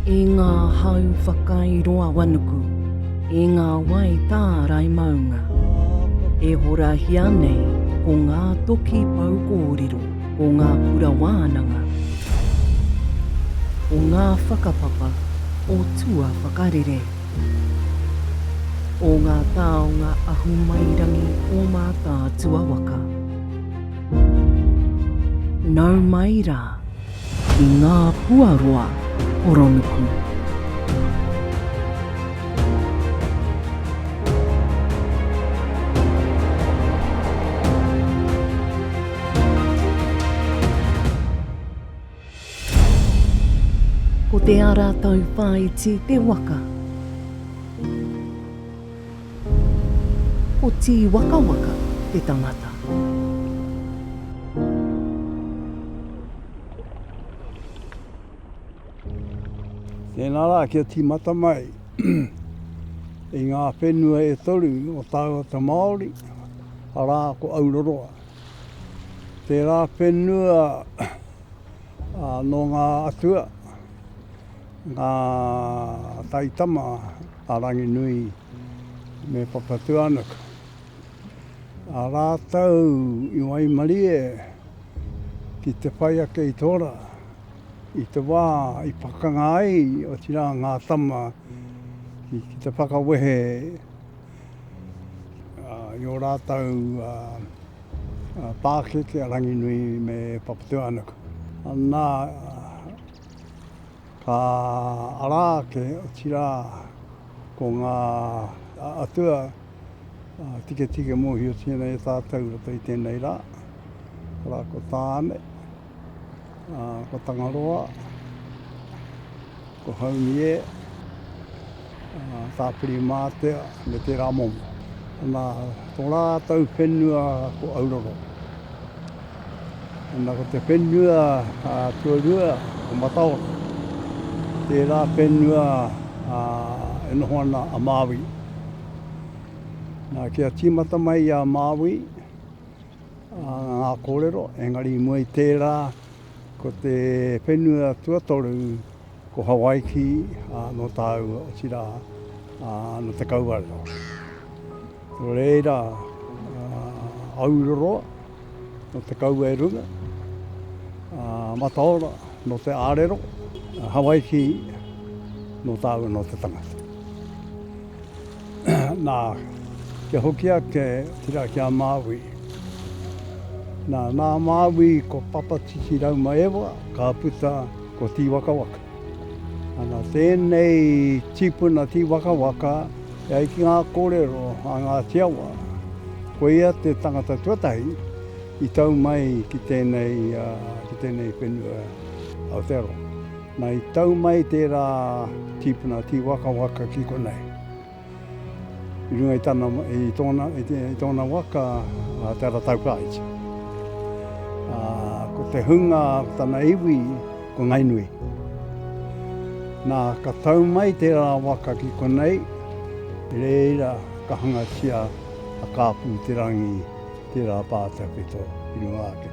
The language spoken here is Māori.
E ngā hau whakairoawanuku, e ngā wai tārai maunga, e horahia nei ko ngā toki pou kōrero, ko ngā kura wānanga, ko ngā whakapapa o tuawhakarere. O ngā taonga ahumairangi o Mātaatua waka. Nau mai rā ki ngā puaroa horonuku. Ko te ara tauwhāiti te waka. Ko Tīwakawaka te tangata. Tēnā rā kia tīmata mai i ngā whenua e toru o tāua te Māori, arā, ko Auroroa. Tērā whenua nō ngā atua, ngā taitama a Ranginui me Papatūānuku. A rātou i waimarie ki te whai ake i tō rā, i te wā i pakanga ai, otirā, ngā tama ki te whakawehe. I ō rātou pākeke a Ranginui me Papatūānuku, nā, ka ara ake, otirā, ko ngā atua tiketike mōhiotia nei e tātou i roto i tēnei rā, arā, ko Tāne, Ko Tangaroa, ko Haumie, Tāpiri Mātea me tērā momo. Ana, tō rātou whenua ko Auroro. Ana, ko te whenua a Tuarua, ko Mataora. Tērā whenua a, e noho ana a Māui. Nā, kia tīmata mai a Māui, Ngā kōrero, engari i mua i tērā, ko te whenua tuatoru, ko Hawaiki, ā, nō tāua, otirā, ā, nō Te Kauarewa. Nō reira, Auroroa, nō Te Kauaerunga, ā, Mataora, nō Te Ārero, Hawaiki, nō tāua, nō te tangata. Nā, kia hoki ake ki rā, ki a Māui. Nā, nā Māui ko Papatiti Raumaewa ka puta ko Tīwakawaka. Ana, tēnei tīpuna Tīwakawaka e ai ki ngā kōrero a Ngāti Awa, ko ia te tangata tuatahi i tau mai ki tēnei, ki tēnei whenua Aotearoa. Na i tau mai tērā tīpuna tīwakawaka ki konei. I runga i tana, i tōna, i te, i tōna waka, a Te Arataukaiti. A, ko te hunga, ko tana iwi, ko Ngainui. Na, ka tau mai tērā waka ki konei, reira ka hangatia a Kāpū Te Rangi tērā pātaka i runga ake.